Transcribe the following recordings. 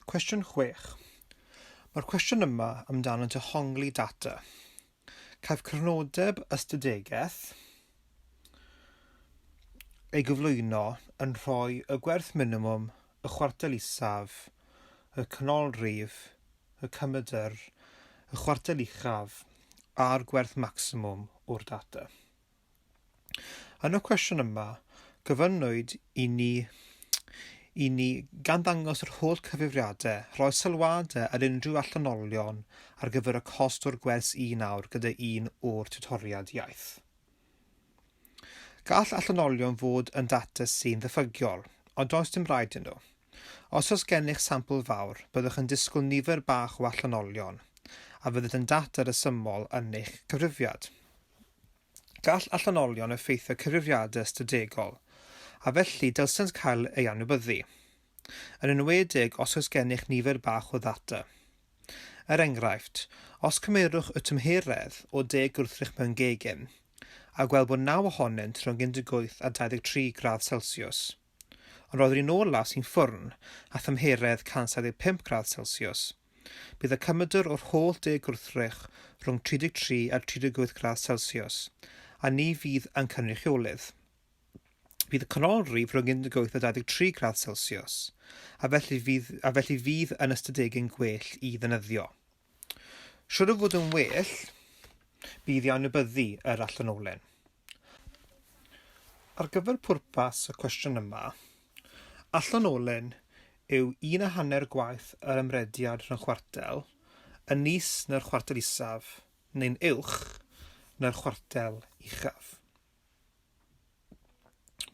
Cwestiwn 6. Mae'r cwestiwn yma amdano dehongli data. Caiff crynodeb ystadegaeth ei gyflwyno yn rhoi y gwerth minimwm, y chwartel isaf, y canolrif, y cymedr, y chwartel uchaf a'r gwerth macsimwm o'r data. Yn y cwestiwn yma, gofynnwyd i ni i ni gan ddangos yr holl cyfrifiadau, rhoi sylwadau ar unrhyw allanolion ar gyfer y cost o'r gwers un awr gyda un o'r tiwtoriad iaith. Gall allanolion fod yn data sy'n ddiffygiol, ond does dim rhaid yn nhw. Os oes gennych sampl fawr, byddwch yn disgwyl nifer bach o allanolion, a fydd yn data resymol yn eich cyfrifiad. Gall allanolion effeithio cyfrifiadau ystadegol, a felly dylsent cael eu anwybyddu, yn enwedig os oes gennych nifer bach o ddata. Er enghraifft, os cymerwch y tymheredd o deg gwrthrych mewn gegin, a gweld bod naw ohonynt rhwng 18 a 23 gradd Celsiws, Ond roedd yr un ola sy'n ffwrn â thymheredd 175 gradd selsiws. Bydd y cymydr o'r holl de gwrthrych rhwng 33 a 38 gradd selsiws, a ni fydd yn cynrychiolydd. Bydd y canolrif rhwng 18 a 23 gradd selsiws, a felly fydd, a felly fydd yn ystadegyn gwell i ddynyddio. Siŵr o fod yn well bydd i anwybyddu yr allanolyn. Ar gyfer pwrpas y cwestiwn yma, allanolyn yw un a hanner gwaith yr ymrediad rhwng chwartel yn is na'r chwartel isaf neu'n uwch na'r chwartel uchaf.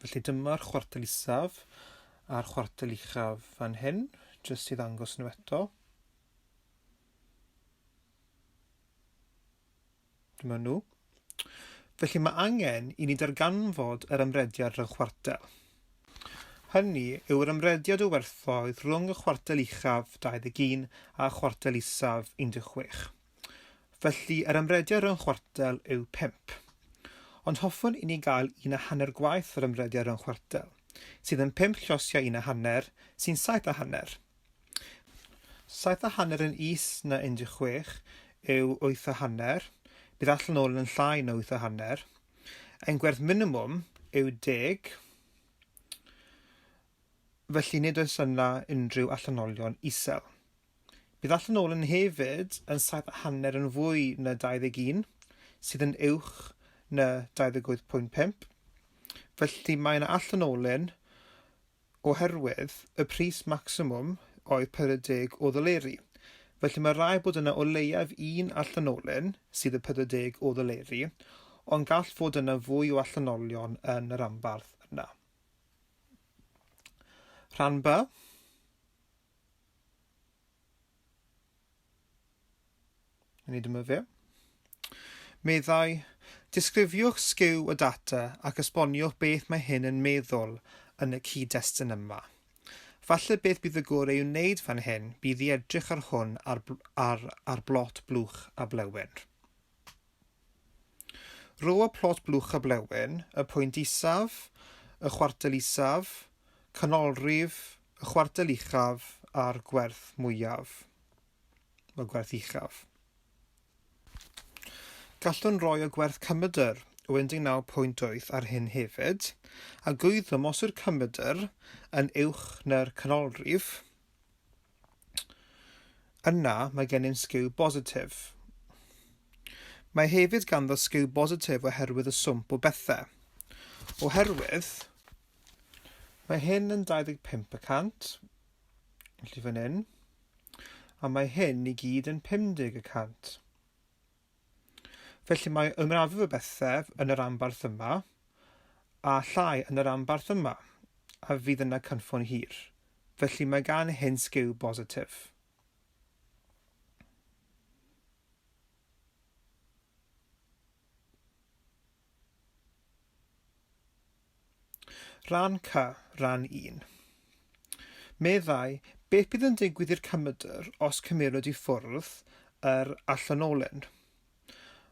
Felly dyma'r chwartel isaf a'r chwartel uchaf fan hyn, jyst i ddangos nhw eto. Dyma nhw. Felly mae angen i ni darganfod yr ymrediad rhwng chwartel. Hynny yw yr ymrediad o werthoedd rhwng y chwartel uchaf 21 a chwartel isaf 16. Felly, yr ymrediad rhwng chwartel yw pump. Ond hoffwn i ni gael un a hanner gwaith yr ymrediad rhwng chwartel, sydd yn pump llosiau un a hanner, sy'n saith a hanner. Saith a hanner yn is na 16 yw wyth a hanner, bydd allan ôl yn llai na wyth a hanner. Ein gwerth minimwm yw deg, felly nid oes yna unrhyw allanolion isel. Bydd Allan Olen hefyd yn saith a hanner yn fwy na 21, sydd yn uwch na 28.5. Felly mae yna Allan Olen oherwydd y pris maximum oedd 40 o ddoleri. Felly mae rhaid bod yna o leiaf un Allan Olen sydd yn 40 o ddoleri, ond gall fod yna fwy o allanolion yn y ranbarth yna. Rhan B. Yn ei dymyfio. Meddai, disgrifiwch sgiw y data ac esboniwch beth mae hyn yn meddwl yn y cyd-destun yma. Falle beth bydd y gor ei wneud fan hyn bydd i edrych ar hwn ar, ar, ar blot blwch a blewyn. Rho y plot blwch a blewyn, y pwynt isaf, y chwartel isaf, canolrif, y chwartel uchaf a'r gwerth mwyaf, y gwerth uchaf. Gallwn roi y gwerth cymydr o 19.8 ar hyn hefyd, a gwyddom os yw'r cymydr yn uwch na'r canolrif, Yna mae gennym sgiw bositif. Mae hefyd ganddo sgiw bositif oherwydd y swmp o bethau. Oherwydd, mae hyn yn 25 y cant, felly fan hyn, a mae hyn i gyd yn 50 y cant. Felly mae ymrafael y bethau yn y rhanbarth yma, a llai yn y rhanbarth yma, a fydd yna cynffon hir. Felly mae gan hyn sgiw bositif. Rhan C, Rhan I. Meddai, Beth bydd yn digwydd i'r cymydr os cymerwyd i ffwrdd yr allanolyn?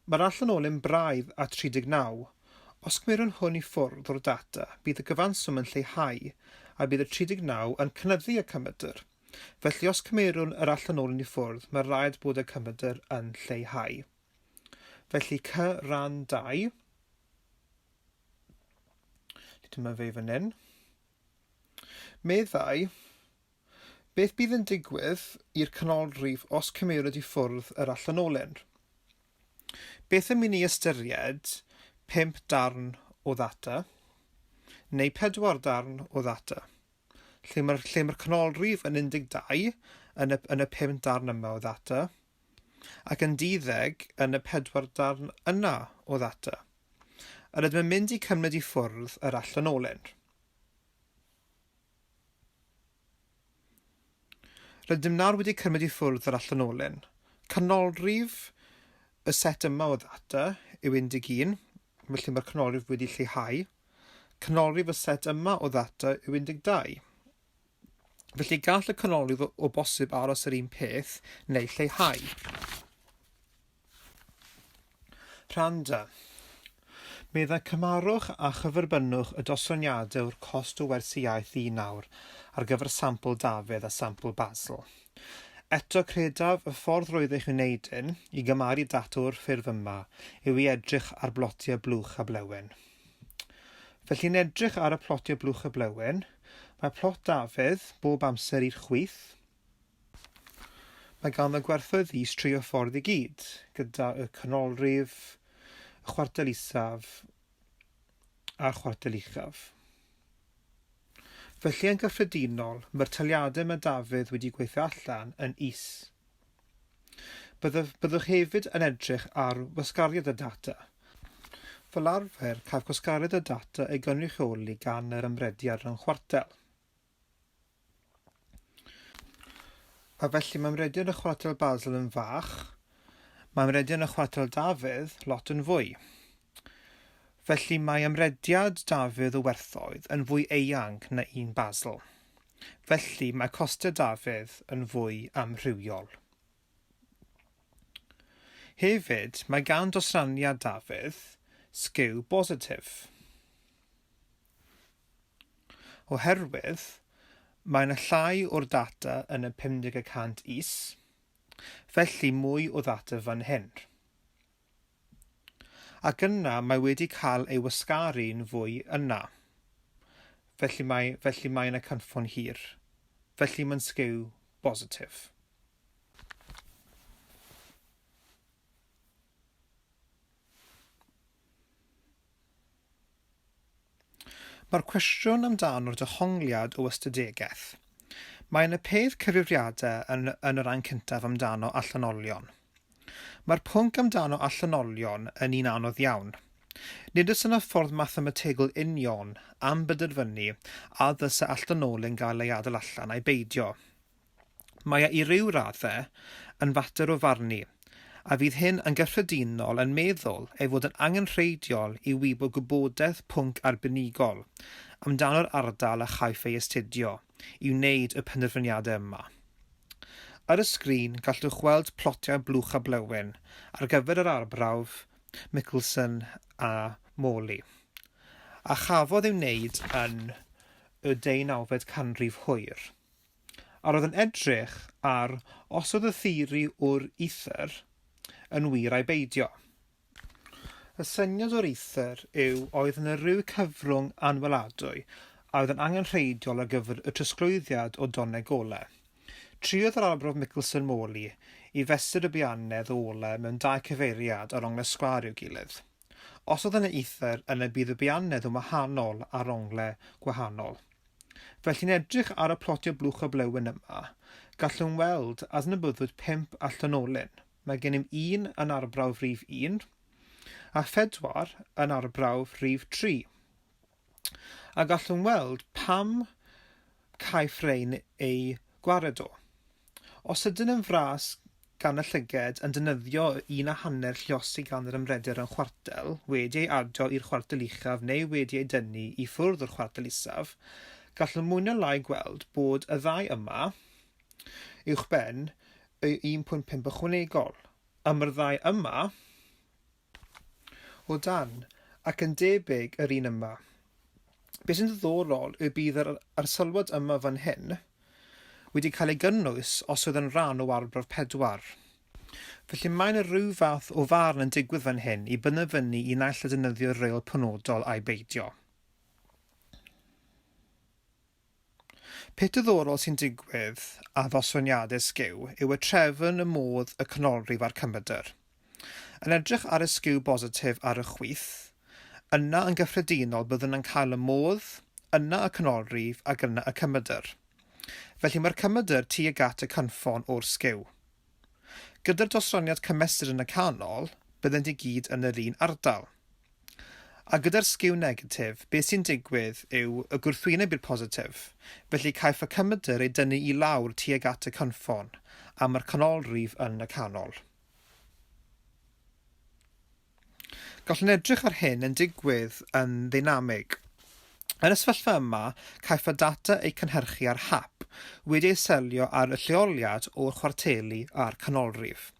Mae'r allanolyn braidd â 39. Os cymerwn hwn i ffwrdd o'r data, bydd y gyfanswm yn lleihau, a bydd y 39 yn cynyddu y cymydr. Felly os cymerwn yr allanolyn i ffwrdd, mae rhaid bod y cymydr yn lleihau. Felly C, Rhan ii. Dyma fe fan hyn. Meddai, beth bydd yn digwydd i'r canolrif os cymerwyd i ffwrdd yr allanolyn? Beth am i ni ystyried pump darn o ddata, neu pedwar darn o ddata, lle mae'r lle mae'r canolrif yn 12 yn y, yn y pum darn yma o ddata, ac yn duddeg yn y pedwar darn yna o ddata, yr ydym yn mynd i cymryd i ffwrdd yr allanolyn. Rydym nawr wedi cymryd i ffwrdd yr allanolyn. Canolrif y set yma o ddata yw 11, felly mae'r canolrif wedi lleihau. Canolrif y set yma o ddata yw 12. Felly gall y canolydd o bosib aros yr un peth neu lleihau. Rhanda. Meddai cymarwch a chyferbynnwch y dosraniadau o'r cost o wersi iaith i nawr ar gyfer sampl Dafydd a sampl Basil. Eto credaf y ffordd roeddech chi'n wneud hyn i gymaru data o'r ffurf yma yw i edrych ar blotiau blwch a blewen. Felly yn edrych ar y plotiau blwch y blewyn, mae plot Dafydd bob amser i'r chwith. Mae ganddo gwerthoedd is tri o ffordd i gyd, gyda y canolrif, y chwartel isaf a'r chwartel uchaf. Felly yn gyffredinol, mae'r taliadau mae Dafydd wedi gweithio allan yn is. Byddaf, byddwch hefyd yn edrych ar wasgariad y data. Fel arfer, caf gwasgariad y data ei gynrychioli gan yr ymrediad rhwng chwartel. A felly mae ymrediad y chwartel Basel yn fach, mae ymrediad y chwartel Dafydd lot yn fwy. Felly mae ymrediad Dafydd o werthoedd yn fwy eang na un Basel. Felly, mae costau Dafydd yn fwy amrywiol. Hefyd, mae gan dosraniad Dafydd sgiw bositif. Oherwydd, mae yna llai o'r data yn y 50 y cant is, felly mwy o ddata fan hyn. Ac yna mae wedi cael ei wasgaru'n fwy yna. Felly mae, felly mae yna cynffon hir. Felly mae'n sgiw bositif. Mae'r cwestiwn amdano dehongliad o ystadegaeth. Mae yn y peth cyfrifiadau yn yn y ran cyntaf amdano allanolion. Mae'r pwnc amdano allanolion yn un anodd iawn. Nid oes yna ffordd mathemategol union am benderfynu a ddylse allanolyn gael ei adael allan ai beidio. Mae e i ryw raddau yn fater o farnu, a fydd hyn yn gyffredinol yn meddwl ei fod yn angenrheidiol i wybod gwybodaeth pwnc arbenigol amdano'r ardal a chaiff ei astudio i wneud y penderfyniadau yma. Ar y sgrin gallwch weld plotiau blwch a blewyn ar gyfer yr arbrawf Mickelson a Morley, a chafodd ei wneud yn y deunawfed canrif hwyr. A roedd yn edrych ar os oedd y theori o'r ether yn wir ai beidio. Y syniad o'r ether yw oedd yna ryw cyfrwng anweladwy a oedd yn angenrheidiol ar gyfer y trosglwyddiad o doneg ole. Triodd yr Arbrawf Michelson Morley i fesur y bianedd o ole mewn dau cyfeiriad ar onglau sgwâr i'w gilydd. Os oedd yna ether, yna bydd y bianedd yn wahanol ar onglau gwahanol. Fel chi'n edrych ar y plotiau blwch a blewyn yma, gallwn weld adnabyddwyd pump a Llynolyn. Mae gennym un yn arbrawf rif un, a phedwar yn arbrawf rif tri. a gallwn weld pam caiff rhein eu gwared o. Os ydyn yn fras gan y llyged yn dynyddio un a hanner llios i gan yr ymreder yn chwartel wedi ei adio i'r chwartel uchaf neu wedi ei dynnu i ffwrdd o'r chwartel isaf, gallwn mwy na lai gweld bod y ddau yma uwchben y 1.5 ychwanegol. Am yr ddau yma, O dan, ac yn debyg yr un yma. Be sy'n ddiddorol yw bydd yr arsylwad yma fan hyn wedi cael ei gynnwys os oedd yn rhan o arbrawf pedwar. Felly mae yna rhyw fath o farn yn digwydd fan hyn i bynefynnu i naill a defnyddio'r reol penodol ai beidio. Peth diddorol sy'n digwydd a ddoswn i addysg yw yw y trefn y modd y canolrif a'r cymydr. Yn edrych ar y sgiw bositif ar y chwith, yna yn gyffredinol byddwn yn cael y modd, yna y canolrif ac yna y cymydr. Felly mae'r cymydr tuag at y cynffon o'r sgiw. Gyda'r dosraniad cymesur yn y canol, byddent i gyd yn yr un ardal. A gyda'r sgiw negatif, beth sy'n digwydd yw y gwrthwyneb i'r positif, felly caiff y cymydr ei dynnu i lawr tuag at y cynffon, a mae'r canolrif yn y canol. Gallwn edrych ar hyn yn digwydd yn ddeinamig. Yn y sefyllfa yma, caiff y data eu cynhyrchu ar hap, wedi ei selio ar y lleoliad o'r chwarteli a'r canolrif.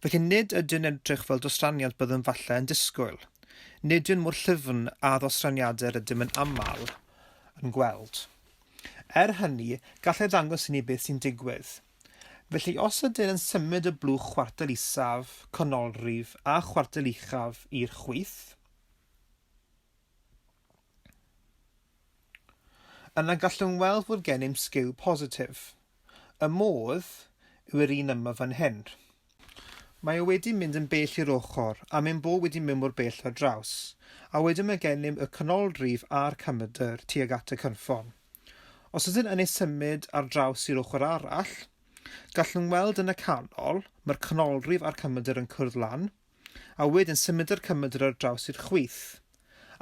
Felly nid ydyn edrych fel dostraniant byddwn falle yn disgwyl. Nid yw'n mor llyfn â ddostraniadau yr ydym yn aml yn gweld. Er hynny, gall e ddangos i ni beth sy'n digwydd. Felly, os ydyn yn symud y blwch chwartel isaf, canolrif a chwartel uchaf i'r chwith, yna gallwn weld fod gennym sgiw positif. Y modd yw'r un yma fan hyn. Mae o wedi mynd yn bell i'r ochr, a mae'n bo wedi mynd mor bell ar draws, a wedyn mae gennym y canolrif a'r camydr tuag at y cynffon. Os ydyn yn ei symud ar draws i'r ochr arall, gallwn weld yn y canol, mae'r canolrif a'r cymedr yn cwrdd lan, a wedyn symudo'r cymedr ar draws i'r chwith,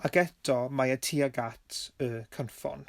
ac eto mae e tuag at y cynffon.